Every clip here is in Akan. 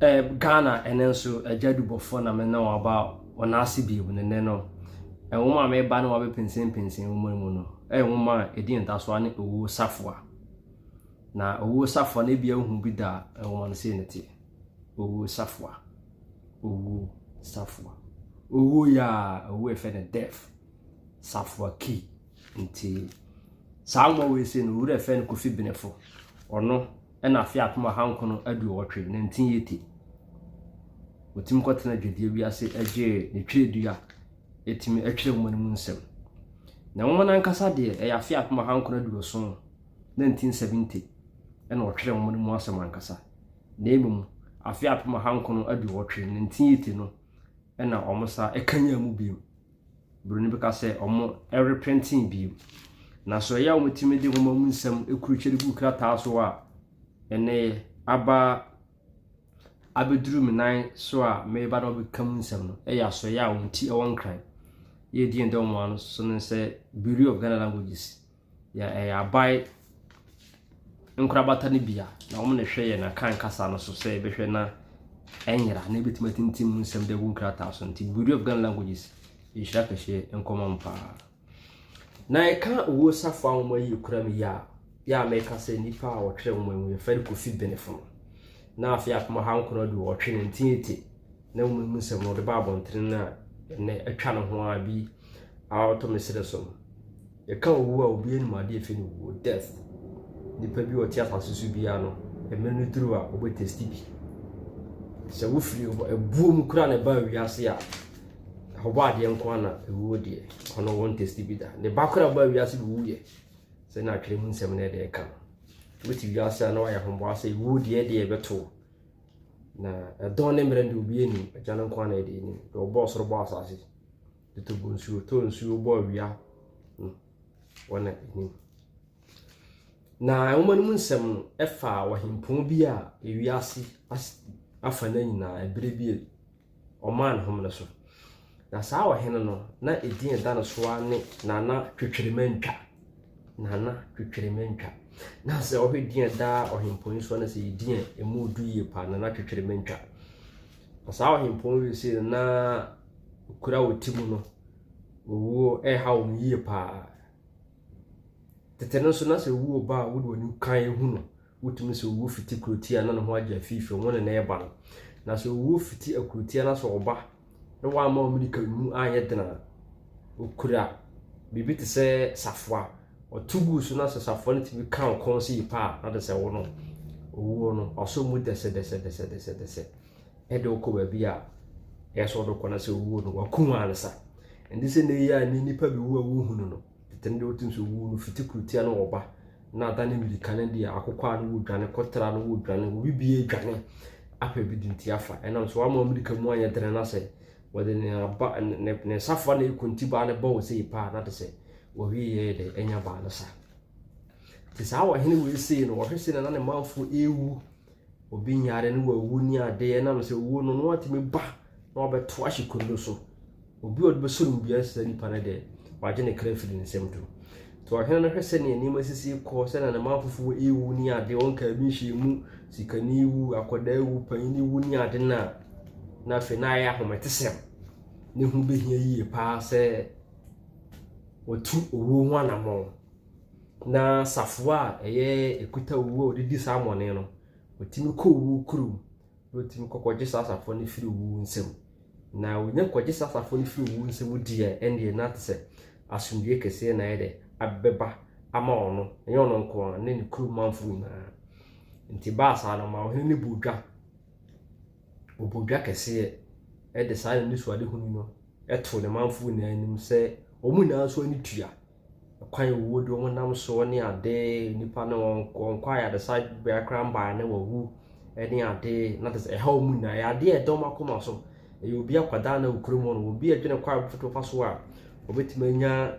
Eh Ghana ɛnɛ nso agya dubɔfoɔ na me ne wɔn aba wɔn ase bio ne nnɛ no nwoma a meba ne wɔn abɛpensenpensen nwoma yi mu no ɛyɛ nwoma a ɛdi ntasoa ne owuo safoa na owuo safoa no ebia wohu bi da nwoma no sei ne te owuo safoa owuo safoa owuo yɛ a owuo ɛfɛ ne death safoa key nti saa nwoma wei sei no owura ɛfɛ no kofi benefo ɔno na afe apem ahankron aduowɔtwe, 1980, ɔtumi kɔtena dwadie bi ase gyee ne twerɛdua a ɛtumi twerɛ nwoma no mu nsɛm. Na nwoma no ankasa deɛ, ɛyɛ afe apem ahankron aduoson, 1970, na ɔtwerɛ nwoma no mu asɛm ankasa. Na mmom, afe apem ahankron aduowɔtwe, 1980, no na wɔsa kanyan mu bio. Buroni bi ka sɛ wɔreprintin bio. Na sɛ ɔyɛ a wɔtumi de nwoma mu nsɛm kurutwa de gu krataa so a, ɛnɛ yɛ aba abɛduru me nan so a meba na wɔbɛka mu nsɛm no yɛ asoɛeɛ a wɔn ti wɔ nkran. Yɛredi yɛn dɔm ano so no sɛ Bureau of Ghana Languages. Yɛ ɛyɛ aban nkorabata no bi a, na wɔn na ɛhwɛ yɛn Akan kasa no so sɛ yɛbɛhwɛ na ɛnyera na ebetumi atintim mu nsɛm de agu nkrataa so. Nti Bureau of Ghana Languages nhyira kɛseɛ nkɔma mu paa. Na ɛka owuo safo a wɔn ayi kura mu yi a, yɛ a mɛka sɛ nnipa a wɔtwerɛ wɔn mu yɛfɛ no Kofi Benefo no. Na afei apem ɔha nkron aduɔtwe ne ntiati. na mmom mu nsɛm no ɔde ba abɔntene no a ɛnnɛ atwa ne ho ara bi a ɔtɔ me serɛ so no. Yɛka owu a obi anim adeɛ fi no wuo, death. Nipa bi a ɔte asase so biara no, mmerɛ no duru a ɔbɛ testi bi. Sɛ wofiri ɛbuo mu kura na ɛba wiase a, ɔbɔ adeɛ nko ara na ewuo deɛ, ɔno wɔn testi bi da. Ne ba kura ba wiase bi wuyɛ, sɛ na atwerɛ mu nsɛm no ɛde ɛka no. Wote wiase a na wayɛ ahoboa sɛ ewuo deɛ deɛ ɛbɛto Na ɛdɔn ne mmerɛn deɛ obiara nim, Agya no nko ara na ɛde anim. Deɛ ɔbɔɔ soro bɔɔ asase, de to gu nsuo, tɔ nsuo bɔ awia no, wɔn na anim. Na nwoma no mu nsɛm no, ɛfa ɔhempɔn bi a ewiase afa no nyinaa, ɛberɛ bi a Ɔmaa ne home no so. Na saa ɔhene no, na edin a ɛda ne so ara ne Nana Twetweremantwa. Nana Twetweremantwa. Na sɛ ɔhwɛ din a ɛda ɔhempɔn yi so na sɛ yɛ din a emu du yie paa, Nana Twetweremantwa. Na saa ɔhempɔn yi sei no, na kuro a wɔte mu no, owuo ɛreha wɔn yie paa. Tete no nso, na sɛ owuo ba a, wode w'ani kan hu no. Wotumi sɛ owu fiti kurotia na ne ho agye afi fam wo ne no reba no. Na sɛ owu fiti akurotia na sɛ ɔba na wamma wo mirika mu anyɛ den a, okura biribi te sɛ safoa. Ɔto gu so na sɛ safoa no tumi ka wo kɔn sɛ yi pa a, na de sɛ wo no. Owuo no, ɔsɔ mu dɛsɛdɛsɛdɛsɛdɛsɛ de wokɔ baabi a ɛyɛ sɛ ɔde kɔ na sɛ owuo no, wakum ansa. Ɛnde sɛ nnɛ yi a nnipa bi wu a wohunu no. Tete no deɛ wotim sɛ owuo no fiti kurotia no wɔba na adane mmirika no deɛ akokwaa no wɔdwane kɔtra no wɔdwane obi bia dwane apɛ bi de nti afa ɛnam so ama mmirika mu anyɛ dene na sɛ wɔde ne aba ne ne safa na ekunti baa no bɔɔ sɛ paa na de sɛ wɔwie yɛ de anya baa no sa te saa wɔhene wei sei no wɔhwɛ sei na na ne manfoɔ ewu Obi nyare ne wawu ne ade ɛnam sɛ owuo no na watumi ba na wabɛto ahye kondo so. Obi a ɔde bɛsɔ no bia sɛ nipa no deɛ wagye ne kra firi nsɛm to. Nti ɔhene no hwɛ sɛ nea nneɛma sisi kɔ sɛ na ne manfofoɔ ewu ne ade wɔn kaa bi nhyɛ mu sikani wu akɔda ewu panyin ewu ne ade na na afei na ayɛ ahometesɛm ne ho behia yie paa sɛ wɔtu owuo ho anammɔn. Na safoa a ɛyɛ ɛkuta owuo a ɔde di saa amɔne no, ɔtumi kɔ owuo kurom na ɔtumi kɔkɔgye saa safoa no firi owuo nsam. Na ɔnya kɔgye saa safoa no firi owuo nsam deɛ ɛnneɛ na te sɛ asomdwoeɛ kɛseɛ na ayɛ dɛ abɛba ama ɔno, ɛnyɛ ɔno nko ara ne ne kurom manfoɔ nyinaa. Nti baa saa no ma ɔhene no bɔɔ dwa, ɔbɔɔ dwa kɛseɛ de saa anisoadehunu no too ne manfoɔ nyinaa anim sɛ wɔn nyinaa nso ani tua. kwan a wɔwɔ de wɔnam soɔ ne adeɛ, nnipa no wɔnkɔ ayaresa bea koraa mbaeɛ na wɔawu ne adeɛ, na kyerɛ sɛ ɛha wɔn nyinaa. Ɛyɛ adeɛ a ɛda wɔn akoma so. Ɛyɛ obi akwadaa na ɔwɔ kurom hɔ nom. Obi adwene kwan a ɔbɛtumi afa so a ɔbɛtumi anya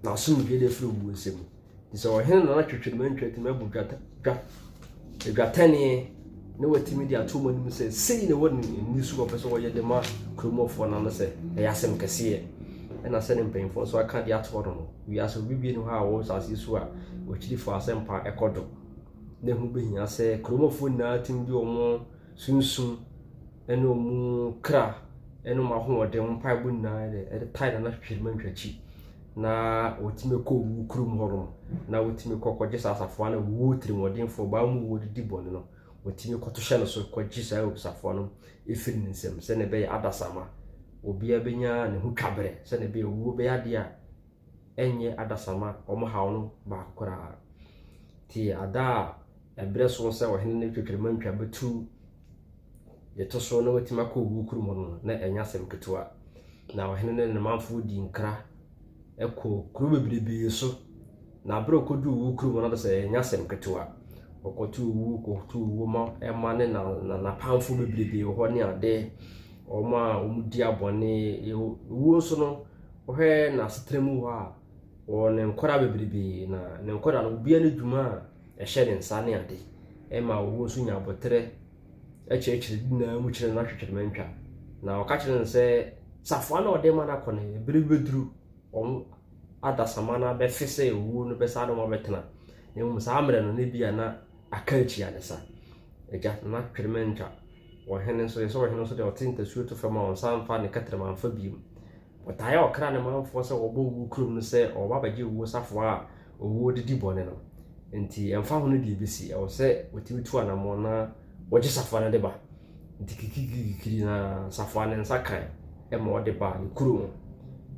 n'asomdwoeɛ de afiri owuo nsam. Te sɛ ɔhene na na twetwem antwa atumi abu dwa . adwatɛneɛ na watumi de ato mu anim sɛ sei na ɛwɔ ne ani so ɔpɛ sɛ ɔyɛ de ma kuromɔfoɔ no ano sɛ ɛyɛ asɛm kɛseɛ ɛna sɛ ne mpanyinfoɔ nso aka de ato hɔ no wiase obi bie no hɔ a ɔwɔ asase so a ɔkyirifo asɛmpa ɛkɔ do na ɛho bɛhia sɛ kuromɔfoɔ nyinaa tumi de wɔn sunsum ne wɔn kra ne wɔn ahoɔden, wɔn mpaebɔ nyinaa yɛ dɛ, ɛde tae na na hwehwɛ ma ntwa akyi. Na wɔtumi kɔ owu kurom hɔ nom, na wɔtumi kɔ kɔgye saa asafoa no wuo tirimɔdenfoɔ, baa mu wuo didi bɔne no, wɔtumi kɔto hyɛ no so kɔgye saa asafoa no ɛfiri ne nsam sɛdeɛ ɛbɛyɛ adasamma. Obiara bɛnya ne ho twa berɛ sɛdeɛ ɛbɛyɛ owuo bɛyɛ adeɛ a ɛnyɛ adasamma, wɔn haw no baako koraa. Nti ada a ɛberɛ so sɛ ɔhene no twetwere ma ntwa bɛtu Deɛ ɛtɔ so na watumi akɔ owuo kurom hɔ no, na ɛnyɛ asɛm ketewa. Na ɔhene ne ne manfoɔ dii nkra kɔɔ kuro bebrebee so. Na aberɛ a ɔkɔduu owuo kurom no, na sɛ ɛnyɛ asɛm ketewa. Ɔkɔto owuo, kɔto owuo ma ɛma ne na na n'apamfoɔ bebrebee wɔ hɔ ne adeɛ. Wɔn a wɔdi abɔne, owuo nso no, wohwɛ n'asetena mu hɔ a, ɔwɔ ne nkwadaa bebrebee. Na ne nkwadaa no, obiara ne dwuma a. ɛhyɛ ne nsa ne ade ɛma ɔwɔ nso nya aboterɛ ɛkyerɛkyerɛ di nyinaa mu kyerɛ no ahwehwɛ ma ntwa na ɔka kyerɛ no sɛ safoa na ɔde ma no akɔ no ebere bi bɛduru wɔn adasama no abɛfe sɛ owuo no bɛsa de wɔn abɛtena na mmom saa mmerɛ no ne bi a na aka akyi adesa agya na n'ahwehwɛ ma ntwa wɔhene nso yɛ sɛ wɔhene nso deɛ ɔte ntasuo to fam a ɔnsa mfa ne kɛtɛrɛma mfa biem Wɔtaa ɔkra ne manfoɔ sɛ wɔbɔ owuo kurom no sɛ wɔba abɛgye owuo safoa a owuo de di bɔne no. Enti ɛmfa ho no deɛ ɛbɛsi, ɛwɔ sɛ wɔtumi tu anammɔn na wɔgye safoa no de ba. Enti kikirikikiri na safoa no nsa kae ma wɔde baa ne kuro mu.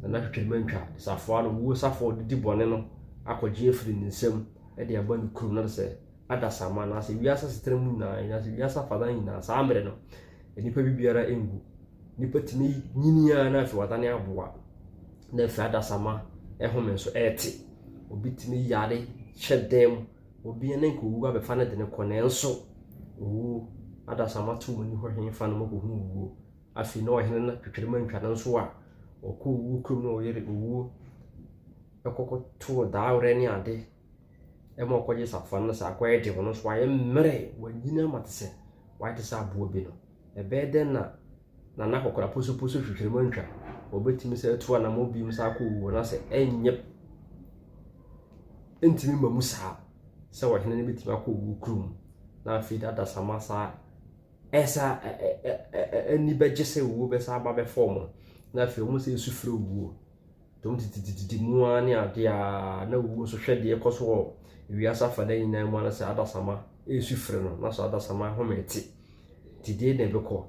Na na twitwirimantwa de safoa no, owuo safoa a ɔde di bɔne no akɔgye afiri ne nsam de aba ne kurom. Na sɛ adasamma anaasɛ wiase asetena mu nyinaa anaasɛ wiase afanan nyinaa saa mmerɛ no nnipa bi biara ngu nnipa tumi nyini ara na afei wadane aboa na afei adasamma ɛhome nso ɛrete obi tumi yare hyɛ dɛm obi ne nka owuo abɛfa no de ne kɔ nanso owuo adasamma to mu ni hɔ hene fa no mu kɔhu owuo afei na ɔhene no twitwere ma ntwa no nso a ɔkɔ owuo kurom na ɔyere owuo ɛkɔkɔ too daawerɛ ne ade ma ɔkɔgye safoa no na saa akoa yi de ɔno nso wayɛ mmerɛ, wanyini ama te sɛ wayɛ te sɛ aboa bi no, ɛbɛyɛ dɛn na Nana akɔkora posoposo hwehwere mu antwa? Ɔbɛtumi sɛ atu anammɔ biom saa akɔ wuo no asɛ ɛnyɛ ntumi ma mu saa sɛ ɔhene no bɛtumi akɔ wuo kurom na afei de adasama saa ɛsa ani bɛgye sɛ wuo bɛsa aba bɛfɔɔ mu na afei wɔn sɛ ɛsu frɛ wuo. Dɔm titititi mu ara ne ade a na owu nso hwɛ deɛ ɛkɔ so wɔ wiase afanan nyinaa mu ara sɛ adasamma resu frɛ no, na so adasamma home te? Nti deɛ na ɛbɛkɔ.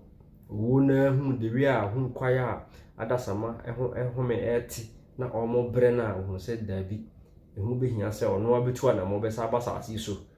Owuo no ara hunu dewee a hunu kwae a adasamma ho home rete na wɔrebrɛ no a, ɔhunu sɛ daabi, ɛho bɛhia sɛ ɔno ara bɛtu anammɔn bɛsan aba asase yi so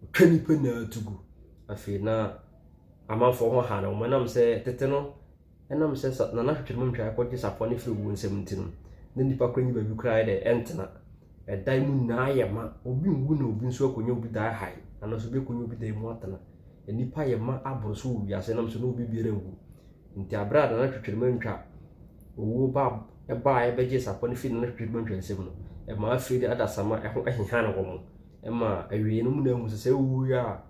Ɔtwa nnipa nyinaa tu gu. Afei na amanfoɔ ho ha no, wɔnam sɛ tete no ɛnam sɛ sa nana hwehwɛ mu ntwae kɔgye sapɔ no firi owuo nsam nti no, na nnipa kora nyi baabi koraa ayɛ dɛ ɛntena. Ɛdan mu nyinaa ayɛ ma, obi nwu na obi nso akɔnya obi dan hae, anaasɛ obi akɔnya obi dan mu atena. Nnipa ayɛ ma aboro so wɔ wiase ɛnam sɛ na obi biara nwu. Nti aberɛ a nana hwehwɛ mu ntwa owuo ba ɛbaa ɛbɛgyee sapɔ no firi nana hwehwɛ mu ntwa nsam no, ɛmaa afei de adasamma ɛho ɛhehan wɔn. Ɛma awiei no muna mu sɛ sɛ wowui a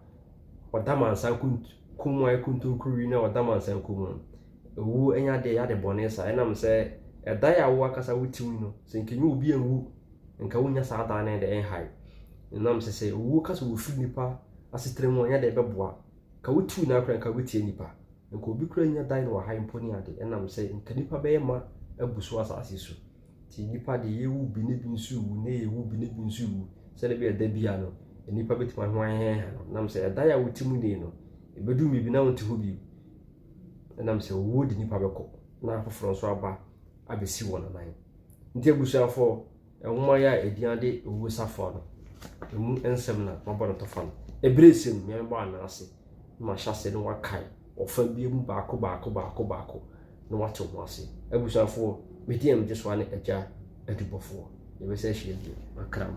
wɔda mansa kunt kɔn mu ayɛ kontonkuro wi na wɔda mansa kɔn mu no, owuo nyɛ adeɛ yɛ ade bɔne saa ɛnam sɛ ɛdae a wo ankasa wo ti mu no sɛ nka nyɛ obi anwu nka wonnya saa daa no de ɛnhae ɛnam sɛ sɛ owuo ka sɛ wɔfiri nipa asetena mu a nyɛ adeɛ ɛbɛboa nka wo ti nyinaa koraa nka wobɛtia nipa Nka obi koraa nnya dan wɔ ha mpo ne ade, ɛnam sɛ nka nnipa bɛyɛ ma abu so asase so. Nti nnipa de, yɛrewu bi na ebi nso rewu, na yɛrewu bi na ebi nso rewu, sɛdeɛ ɛbɛyɛ a da biara no, nnipa bɛtumi aho aheha no. Ɛnam sɛ ɛdan a wote mu nnɛ yi no, ɛbɛduru mmerɛ bi na wonte hɔ bio. Ɛnam sɛ owuo de nnipa bɛkɔ, na afoforɔ nso aba abɛsi wɔn nan. Nti abusuafoɔ, Nwoma yi a edin ade Owuo Safoa no, emu nsɛm na mabɔ no tɔfa no. Bere sɛ nea mebɔ anan ase na mahyɛ ase no wɔakae ɔfã biara mu baako baako baako baako na wɔate ho ase. Abusuafoɔ, me din a megye so ara ne Agya Adubɔfoɔ. Yɛbɛsan ahyia bio. Makram.